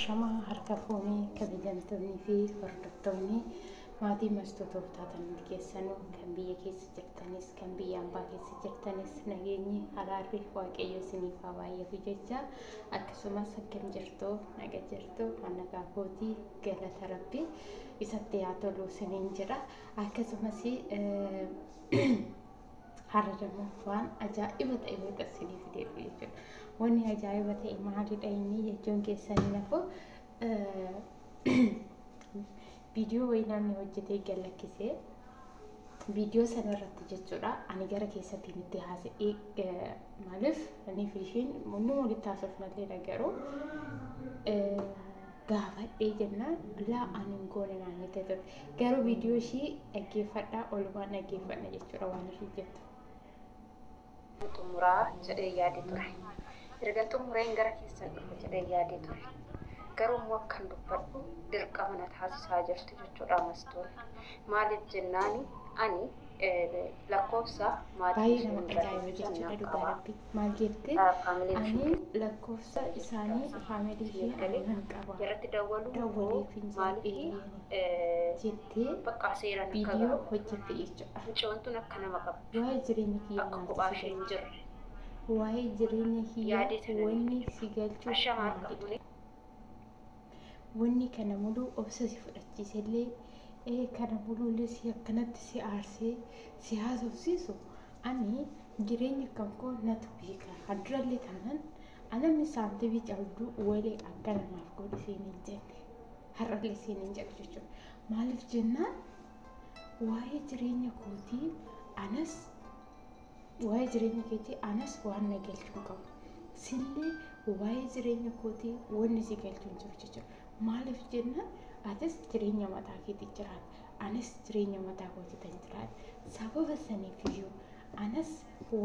Shamaa harka fuunee kabajamtoonnii fi hordoftoonni maatii mastuu tooftaatan hundi keessanuu kan biyya keessa jirtanis kan biyya ambaa keessa jirtanis nageenyi haraarri waaqayyo isiniif haa baay'atu jecha akkasumas akkam jirtu naga jirtu hannagaa kootii galata rabbi isatti haa tolu isiniin jedha akkasumas Har'a immoo waan ajaa'iba ta'e wayita isinii fideedha jechuudha. Wanni ajaa'iba ta'e maalidha inni jechuun keessanii nafuu viidiyoo wayii namni hojjetee gad lakkisee viidiyoo sana irratti jechuudha ani gara keessattiin itti haasa'ee maaliif ani fi ishiin hunduma walitti haasofnallee garuu gaafadhee jennaan laa ani hin goone naan jette ture. Garuu viidiyoo ishii dhaggeeffadhaa olumaan dhaggeeffadha jechuudha waan ishii jettu. xumuraa jedhee yaade ture. Ergan xumureen gara keessan dhufa jedhee yaade ture. Garuu immoo akkan dubbadhu dirqama na taasisaa jirti jechuudha mastuun. Maaliif jennaani ani lakkoofsa maatii Baay'ee ishee nama irraa tajaajilu deebisuu jechuudha nan dhugaa qaba. rabbii. maal jette ani lakkoofsa isaanii faamilii fi aannan qaba dawwaliif hin jedhee jettee viidiyoo hojjette jechuudha. Mucoontuun akka nama qabdu. Waa'ee jireenya kiyyaa akka kophaa ishee hin jirre. Waa'ee jireenya kiyyaa wanni si galchu maalidha? Wanni kana muluu obsa si fudhachiisellee, ee kana muluullee si akkanatti si aarsee si haasofsiisu, ani jireenya kan koo natu beeka, kan durallee taanan a namni saantibii cabdu wale akkana naaf godhi siin hin jenne. Har'allee siin hin jedhu jechuudha. Maaliif jennaan waa'ee jireenya kootii anas Waa'ee jireenya keetii anas waan na galchu hin qabu. Sillee waa'ee jireenya kootii wanni si galchu hin jiru jechuudha. Maaliif jennaan atis jireenya mataa keetii jiraata. Anis jireenya mataa kootii tan jiraata. Sababa saniif iyyuu anas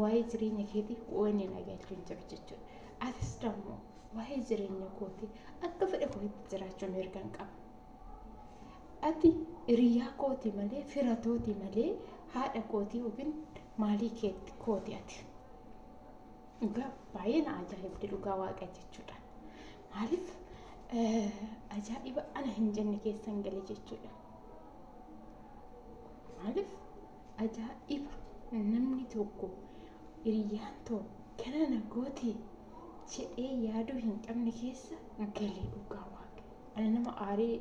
waa'ee jireenya keetii wanni na galchu hin jiru jechuudha. Atis dammoo waa'ee jireenya kootii akka fedha kootitti jiraachuu mirga hin qabu. Ati hiriyaa kooti malee fira tooti malee haadha kooti yookiin maalii keetti kooti ati. Dhugaa baay'ee na ajaa'ibdi dhugaa waaqa jechuudha. Maaliif ajaa'iba ana hin jenne keessan gale jechuudha. Maaliif ajaa'iba namni tokko hiriyyaan too kana na gooti jedhee yaaduu hin qabne keessa gale dhugaa waaqa. Ani nama aaree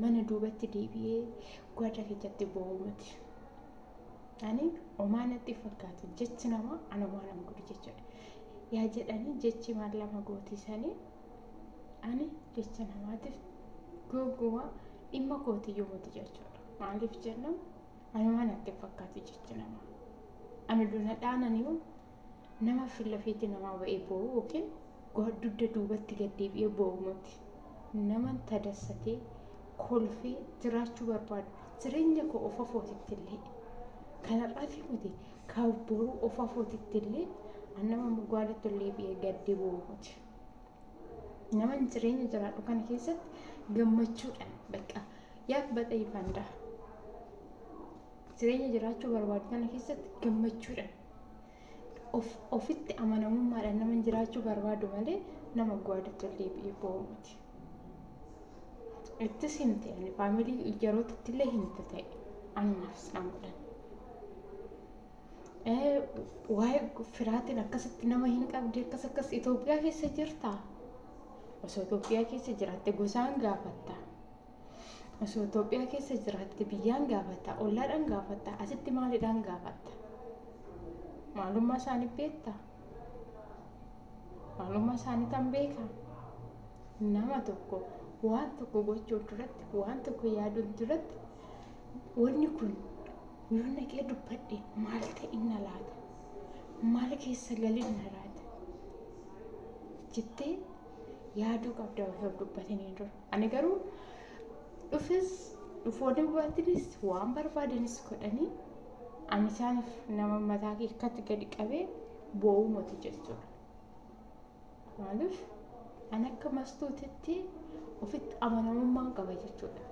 mana duubatti deebi'ee gwaadda keessatti boo'u miti. Ani omaa natti fakkaatu jechi namaa ana waan nama godhu jechuudha. Yaa jedhanii jechi maal lama gootiisanii ani jecha namaatiif gogumaa dhimma kooti yoomati jechuudha. Maaliif jennaan ani waan natti fakkaatu jechi namaa. Ani duna dhaananiyu Nama fillafeetti namaa ba'ee boo'u yookiin dugda duubatti gad deebi'ee boo'u miti. Nama tadassatee, kolfee jiraachuu barbaadu. Jireenya koo of afootittillee kan har'aatii miti kan boruu of afootittillee an nama mogaalatti ol deebi'ee gaddee boo'u miti. Naman jireenya jiraadhu kana keessatti gammachuudhaan bakka yaaf baxee fandaa. Jireenya jiraachuu barbaadu kana keessatti gammachuudhaan Of, ofitti amanamummaadhaan naman jiraachuu barbaadu malee nama gwaaditti ol deebi'ee boo'u miti. Ittis himte ani faamilii yerootitti illee himte ta'e anumaafis nan godhan. Eh, Waa'ee firaatiin akkasitti nama hin qabdi akkas akkas Itoophiyaa keessa jirtaa? Osoo Itoophiyaa keessa jiraatte gosaan gaafatta. Osoo Itoophiyaa keessa jiraatte biyyaan gaafatta, ollaadhaan gaafatta, asitti maalidhaan gaafatta? Maalummaa isaanii beekta? Maalummaa isaanii tan beekaa? Nama tokko waan tokko gochuuf duratti, waan tokko yaaduun duratti, wanni kun yoo naqee dubbadhe maal ta'inna laata? Maal keessa galinna laata? Jettee yaaduu qabda osoo dubbatanii dura. Ani garuu dhufes dhufoonni hubattinis waan barbaadanis godhanii ani isaaniif nama mataa kee akkatti gadi qabee boo'uu moti jechuudha. Maaliif ani akka mastuutitti ofitti amanamummaan qaba jechuudha.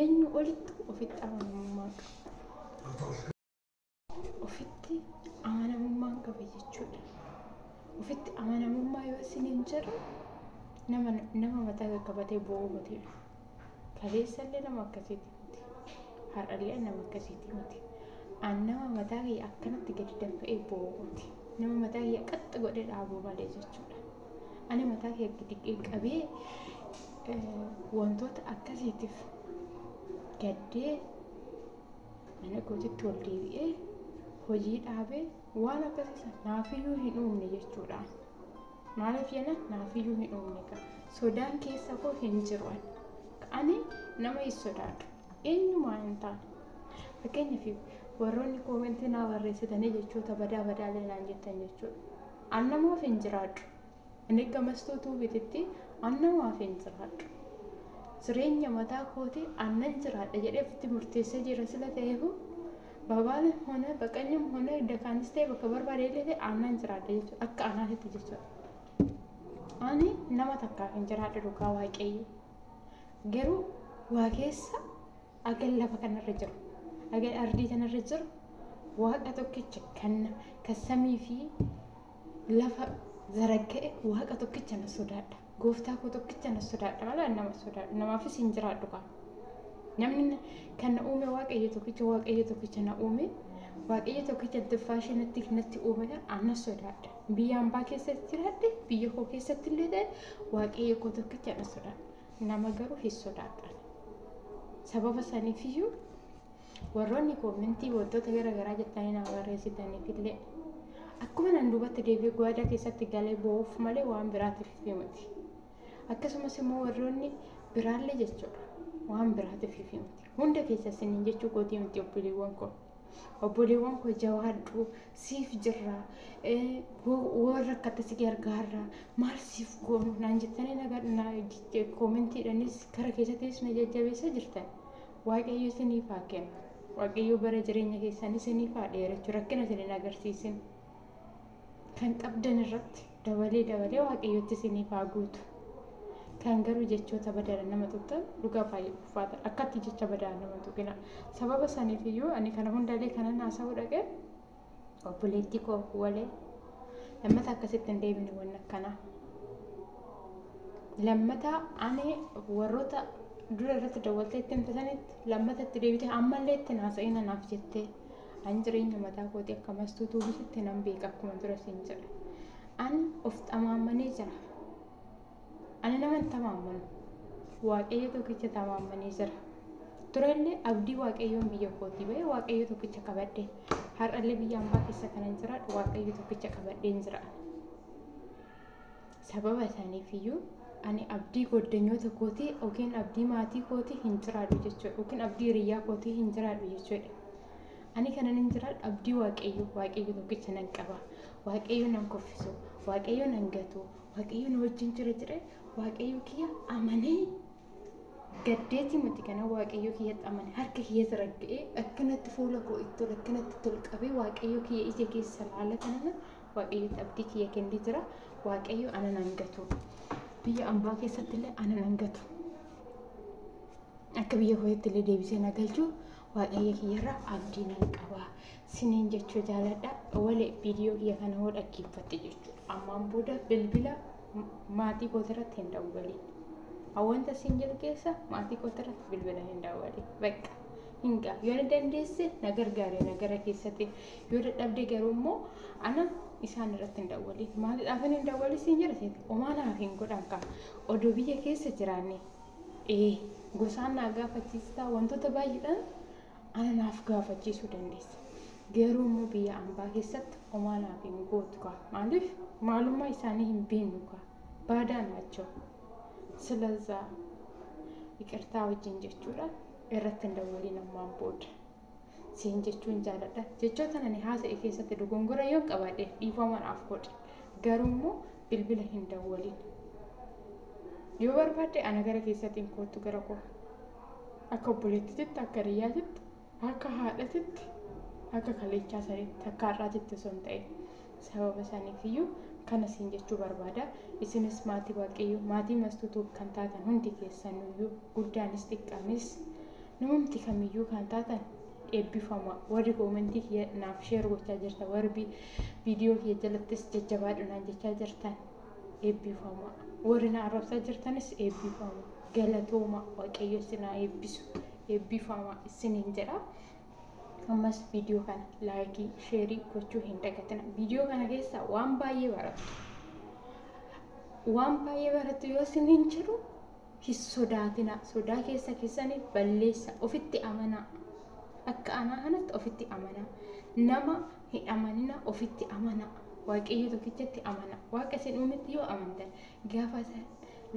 Eenyu olitti ofitti amanamummaan qaba. ofitti amanamummaan qaba jechuudha. Ofitti amanamummaa yoo isiniin jedhu nama nama mataa qaqqabatee boo'u miti. Kaleessallee nama akkasiiti miti. Har'allee nama akkasiiti miti. An nama mataa kiyya akkanatti gadi danfa'ee boo'u miti. Nama mataa kiyya qaxxi godhee dhaabuu malee jechuudha. Ani mataa kiyya gadi qabee wantoota akkasiitiif gaddee Mana kootitti ol deebi'ee hojii dhaabee waan akkasii san naafiyyuu hin uumne jechuudha. Maaliif jenna naafiyyuu hin uumne ka sodaan keessa koo hin jiru ani. Ka ani nama hin sodaadhu. Eenyumaa hin taane. Fakkeenyaaf warroonni koomentii naa barreessitanii jechoota badaa badaa illee naan jettan jechuudha. An namaaf hin jiraadhu. Anegga Mastuu Tuubititti anna waafin jiraadhu. Jireenya mataa kooti annan jiraadha jedhee ofitti murteessee jira sila ta'eehu Babaalem hone Baqanyum hone Dakaanis ta'e bakka barbaade illee ta'e annan jiraadha jechuudha. Akka anaatitti jechuudha. Ani nama takkaaf hin jiraadhu dhugaa waaqayyo. Garuu waa keessa agan lafa kanarra jiru. Agan ardii tanarra jiru waaqa tokkicha kan kan samii fi lafa zaragga'e waaqa tokkicha na sodaadha gooftaa koo tokkicha na sodaadha malee ani nama sodaadhu namaafis hin jiraadhu kaa namni na- kan na uume waaqayyo tokkicha waaqayyo tokkicha na uume waaqayyo tokkicha tuffaashee natti natti uume kan ana sodaadha biyya hambaa keessatti jiraadhe biyya koo keessatti illee ta'e waaqayyo koo tokkicha na sodaadha nama garuu hin sodaadha sababa saniifiyyuu Warroonni koomentii wantoota gara garaa jettanii naa barreessitaniif illee akkuma nan duubatti deebi'ee gwaadaa keessatti galee boo'uuf malee waan biraatiif miti. Akkasumas immoo warroonni biraallee jechuudha waan biraatiif miti. Hunda keessa isiniin jechuu kootii miti obboleewwan koo. Obboleewwan koo jawaadhu siif jirra warra akkatti si gargaarra maal siif goonu naan jettanii koomentiidhanis kara keessattis na jajjabeessaa jirtan. Waaqayyo isiniif haa kennu. Waaqayyo bara jireenya keessan isiniif haa dheerachu rakkina isin hin agarsiisin. Kan qabdan irratti dabalee dabalee waaqayyotti isiniif haa guutu. Kan garuu jechoota badaan nama tuqxan dhugaa baay'ee ulfaata. Akkatti jecha badaan nama tuqina. Sababa saniif iyyuu ani kana hundaalee kanan haasa'uu dhaqe obboleettii koo walee lammata akkasitti hin deebine wanni akkanaa lammata ani warroota dura irratti dawwaltee itti himte sanitti lammata itti deebite ammallee itti naasa'ina naaf jettee an jireenya mataa kootii akka mastuu tuubisitti nan beeka akkuma dura siin jedhe an of xamaamanee jira Ani naman tamaammanu, Waaqayyo tokkicha tamaammanee jira. Turellee abdii Waaqayyoon biyya kootii ba'e Waaqayyo tokkicha qabadhe. Har'allee biyya ambaa keessa kanan jiraadhu Waaqayyo tokkicha qabadheen jira. Sababa isaaniif iyyuu ani abdii goddanyoota kootii yookiin abdii maatii kootii hin jiraadhu jechuudha. Yookiin abdii hiriyyaa kootii hin jiraadhu jechuudha. Ani kanan hin jiraadhu abdii Waaqayyo, Waaqayyo tokkicha nan qaba. Waaqayyo nan kuffisu, Waaqayyo nan gatu, Waaqayyo na wajjin jira jedhee Waaqayyo kiyya amanee gaddeetii miti kana Waaqayyo kiyyatti amane harka kiyya saragga'ee akkanatti fuula koo itti ol akkanatti itti ol qabee Waaqayyo kiyya ija keessa laala kanana Waaqayyotti abdii kiyya kennee jira Waaqayyo ana nan gatu biyya ambaa keessatti illee ana nan gatu akka biyya kootti illee deebisee na galchu waaqayyo kiyyarra abdii nan qaba siniin jechuu jaaladha wale viidiyoo kiyya kana hoo dhaggeeffatte jechuudha ammaan booda bilbila maatii kootirratti hin dawwaliin wanta siin jedhu keessa maatii kootirratti bilbila hin dawwaliin bakka hin gaaf yoo ni dandeesse na gargaare na gara keessatti yoo dadhabde garuu immoo ana isaan irratti hin dawwaliin maaliidhaaf hin dawwaliin siin jedhu omaa naaf hin godhan kaa odoo biyya keessa jiraanne Ee, gosaan naa gaafachiistaa wantoota baay'eedhaan ana naaf gaafachiisuu dandeessa. Garuu immoo biyya ambaa keessatti homaa naaf hin gootu kaa. Maaliif maalummaa isaanii hin beeknu kaa. Baadaa naachoo. Silazaa iqirtaa wajjin jechuudhaan irratti hin dawwaliin ammaan booda. siin jechuun jaaladha. Jechoota ani haasa'e keessatti dogongora yoon qabaadhe dhiifama naaf godhi. Garuu immoo bilbila hin dawwalin. Yoo barbaadde ana gara keessatiin koottu gara koo. Akka obboleettititti, akka hiriyyaatitti, akka haadhatitti, akka kaleechaa sanitti, akka har'aatitti osoo hin ta'in. Sababa saniif iyyuu kana siin jechuu barbaada. Isinis maatii Waaqayyoo, maatii Mastuu Tube kan taatan hundi keessanuu iyyuu guddaanis xiqqaanis namumti kam iyyuu kan taatan eebbifamaa. Warri koomentii kiyya naaf sheer gochaa jirtan, warri viidiyoo kiyya jalattis jajjabaadhu naan jechaa jirtan eebbifamaa. Warri na arrabsaa jirtanis eebbifamaa. Galatoomaa Waaqayyo isin haa eebbisu. Eebbifamaa isiniin jedha. ammas viidiyoo kana laayikii sheerii gochuu hin dagatina viidiyoo kana keessaa waan baay'ee barattu waan baay'ee barattu yoo siniin jedhu hin sodaatina sodaa keessa keessanii balleessa ofitti amanaa akka anaa kanatti ofitti amanaa nama hin amanina ofitti amanaa waaqayyo tokkichatti amanaa waaqa isin uumetti yoo amantan gaafa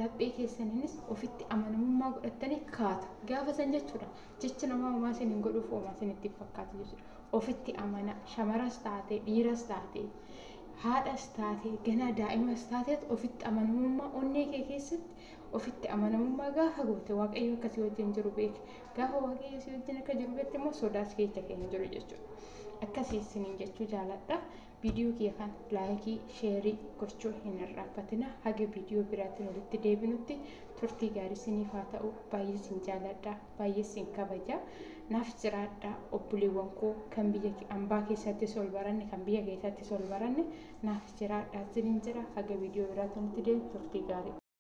laphee keessaniinis ofitti amanamummaa godhattanii kaatu gaafa san jechuudha Jechi namaa homaa sin hin godhuuf homaa sin itti hin fakkaatu jechuudha. Ofitti amanaa shamaras taatee dhiiras taatee haadhas taatee ganaa daa'imas taateet ofitti amanamummaa onnee kee keessatti ofitti amanamummaa gaafa goote waaqayyo akka si wajjin jiru beeki. Gaafa waaqayyo si wajjin akka jiru beekte immoo sodaas keessa kee hin jiru jechuudha. Akkasii isiniin jechuu jaaladha. Video kiyya kana like, share gochuu hin irraanfatina. Haga video biraatiin walitti deebinutti turtii gaarii isiniif haa ta'u. Baay'ee isin jaaladha, baay'ee isin kabaja. Naaf jiraadha obboleewwan koo kan biyya ambaa keessattis ol baranne kan biyya keessattis ol baranne naaf jiraadha isiniin jira. Haga video biraatiin walitti deebinutti turtii gaarii.